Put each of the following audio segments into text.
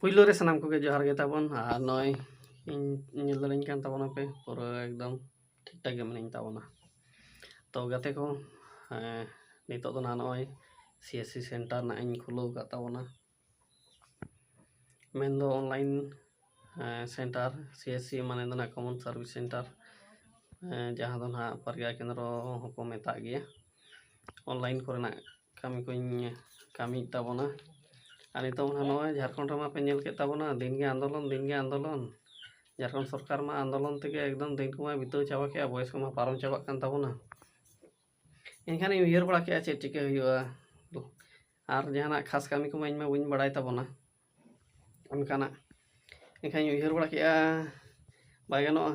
ᱯᱩᱭᱞᱳ ᱨᱮ ᱥᱟᱱᱟᱢ ᱠᱚᱜᱮ ᱡᱚᱦᱟᱨ ᱜᱮ ᱛᱟᱵᱚᱱ ᱟᱨ ᱱᱚᱜᱼᱚᱭ ᱤᱧ ᱧᱮᱞ ᱫᱟᱲᱮᱧ ᱠᱟᱱ ᱛᱟᱵᱚᱱᱟ ᱯᱮ ᱯᱩᱨᱟᱹ ᱮᱠᱫᱚᱢ ᱴᱷᱤᱠ ᱴᱷᱟᱠ ᱜᱮ ᱢᱤᱱᱟᱹᱧ ᱛᱟᱵᱚᱱᱟ ᱛᱚ ᱜᱟᱛᱮ ᱠᱚ ᱱᱤᱛᱚᱜ ᱫᱚ ᱱᱟᱦᱟᱜ ᱱᱚᱜᱼᱚᱭ ᱥᱤ ᱮᱥ ᱥᱤ ᱥᱮᱱᱴᱟᱨ ᱱᱟᱦᱟᱜ ᱤᱧ ᱠᱷᱩᱞᱟᱹᱣ ᱟᱠᱟᱫ ᱛᱟᱵᱚᱱᱟ ᱢᱮᱱᱫᱚ online centre C S C ᱢᱟᱱᱮ ᱫᱚ ᱦᱟᱸᱜ ᱠᱚᱢᱚᱱ ᱥᱟᱨᱵᱷᱤᱥ ᱥᱮᱱᱴᱟᱨ ᱡᱟᱦᱟᱸ ᱫᱚ ᱦᱟᱸᱜ ᱯᱨᱚᱜᱽᱜᱟ ᱠᱮᱱᱫᱨᱚ ᱦᱚᱸᱠᱚ ᱢᱮᱛᱟᱜ ᱜᱮᱭᱟ ᱚᱱᱞᱟᱭᱤᱱ ᱠᱚᱨᱮᱱᱟᱜ ᱠᱟᱹᱢᱤ ᱠᱚᱧ ᱠᱟᱹᱢᱤᱭᱮᱫ ᱛᱟᱵᱚᱱᱟ ᱟᱨ ᱱᱤᱛᱚᱝ ᱦᱚᱸ ᱱᱚᱜᱼᱚᱭ ᱡᱷᱟᱲᱠᱷᱚᱸᱰ ᱨᱮᱢᱟ ᱯᱮ ᱧᱮᱞ ᱠᱮᱫ ᱛᱟᱵᱚᱱᱟ ᱫᱤᱱ ᱜᱮ ᱟᱱᱫᱳᱞᱚᱱ ᱫᱤᱱ ᱜᱮ ᱟᱱᱫᱳᱞᱚᱱ ᱡᱷᱟᱲᱠᱷᱚᱸᱰ ᱥᱚᱨᱠᱟᱨ ᱢᱟ ᱟᱱᱫᱳᱞᱚᱱ ᱛᱮᱜᱮ ᱮᱠᱫᱚᱢ ᱫᱤᱱ ᱠᱚᱢᱟᱭ ᱵᱤᱛᱟᱹᱣ ᱪᱟᱵᱟ ᱠᱮᱫᱼᱟ ᱵᱚᱭᱮᱥ ᱠᱚᱢᱟ ᱯᱟᱨᱚᱢ ᱪᱟᱵᱟᱜ ᱠᱟᱱ ᱛᱟᱵᱚᱱᱟ ᱮᱱᱠᱷᱟᱱᱤᱧ ᱩᱭᱦᱟᱹᱨ ᱵᱟᱲᱟ ᱠᱮᱫᱼᱟ ᱪᱮᱫ ᱪᱤᱠᱟᱹ ᱦᱩᱭᱩᱜᱼᱟ ᱟᱨ ᱡᱟᱦᱟᱱᱟᱜ ᱠᱷᱟᱥ ᱠᱟᱹᱢᱤ ᱠᱚᱢᱟ ᱤᱧᱢᱟ ᱵᱟᱹᱧ ᱵᱟᱲᱟᱭ ᱛᱟᱵᱚᱱᱟ ᱚᱱᱠᱟᱱᱟᱜ ᱮᱱᱠᱷᱟᱱᱤᱧ ᱩᱭᱦᱟᱹᱨ ᱵᱟᱲᱟ ᱠᱮᱫᱼᱟ ᱵᱟᱭ ᱜᱟᱱᱚᱜᱼᱟ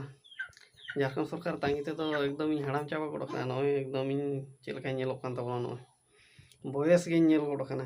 ᱡᱷᱟᱲᱠᱷᱚᱸᱰ ᱥᱚᱨᱠᱟᱨ ᱛᱟᱺᱜᱤ ᱛᱮᱫᱚ ᱮᱠᱫᱚᱢᱤᱧ ᱦᱟᱲᱟᱢ ᱪᱟᱵᱟ ᱜᱚᱫ ᱟᱠᱟᱱᱟ ᱱᱚᱜᱼᱚᱭ ᱮᱠᱫᱚᱢᱤᱧ ᱪᱮᱫ ᱞᱮᱠᱟᱧ ᱧᱮᱞᱚᱜ ᱠᱟᱱ ᱛᱟᱵᱚᱱᱟ ᱱᱚᱜᱼᱚᱭ ᱵᱚᱭᱮᱥ ᱜᱤᱧ ᱧᱮᱞ ᱜᱚᱫ ᱟᱠᱟᱱᱟ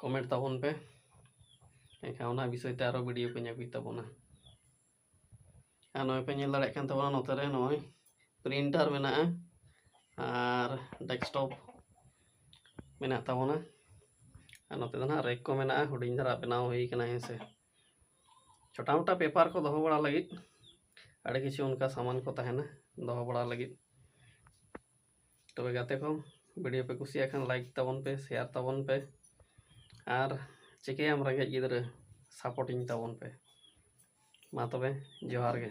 ᱠᱚᱢᱮᱱᱴ ᱛᱟᱵᱚᱱ ᱯᱮ ᱮᱱᱠᱷᱟᱱ ᱚᱱᱟ ᱵᱤᱥᱚᱭ ᱛᱮ ᱟᱨᱚ ᱵᱷᱤᱰᱤᱭᱳ ᱠᱚᱧ ᱟᱹᱜᱩᱭ ᱛᱟᱵᱚᱱᱟ ᱟᱨ ᱱᱚᱜᱼᱚᱭ ᱯᱮ ᱧᱮᱞ ᱫᱟᱲᱮᱭᱟᱜ ᱠᱟᱱ ᱛᱟᱵᱚᱱᱟ ᱱᱚᱛᱮ ᱨᱮ ᱱᱚᱜᱼᱚᱭ ᱯᱨᱤᱱᱴᱟᱨ ᱢᱮᱱᱟᱜᱼᱟ ᱟᱨ ᱰᱮᱥᱠᱴᱚᱯ ᱢᱮᱱᱟᱜ ᱛᱟᱵᱚᱱᱟ ᱟᱨ ᱱᱚᱛᱮ ᱫᱚ ᱱᱟᱦᱟᱜ ᱨᱮᱠ ᱠᱚ ᱢᱮᱱᱟᱜᱼᱟ ᱦᱩᱰᱤᱧ ᱫᱷᱟᱨᱟ ᱵᱮᱱᱟᱣ ᱦᱩᱭ ᱠᱟᱱᱟ ᱦᱮᱸ ᱥᱮ ᱪᱷᱳᱴᱟ ᱢᱳᱴᱟ ᱯᱮᱯᱟᱨ ᱠᱚ ᱫᱚᱦᱚ ᱵᱟᱲᱟ ᱞᱟᱹᱜᱤᱫ ᱟᱹᱰᱤ ᱠᱤᱪᱷᱩ ᱚᱱᱠᱟ ᱥᱟᱢᱟᱱ ᱠᱚ ᱛᱟᱦᱮᱱᱟ ᱫᱚᱦᱚ ᱵᱟᱲᱟ ᱞᱟᱹᱜᱤᱫ ᱛᱚᱵᱮ ᱜᱟᱛᱮ ᱠᱚ ᱵᱷᱤᱰᱤᱭᱳ ᱯᱮ ᱠᱩᱥᱤᱭᱟᱜ ᱠᱷᱟᱱ ᱞᱟᱭᱤᱠ ᱛᱟᱵᱚᱱ ᱯᱮ ᱥᱮᱭᱟᱨ ᱛᱟᱵᱚᱱ ᱯᱮ ᱟᱨ ᱪᱤᱠᱟᱹᱭᱟᱢ ᱨᱮᱸᱜᱮᱡ ᱜᱤᱫᱽᱨᱟᱹ ᱥᱟᱯᱳᱨᱴᱤᱧ ᱛᱟᱵᱚᱱ ᱯᱮ ᱢᱟ ᱛᱚᱵᱮ ᱡᱚᱦᱟᱨ ᱜᱮ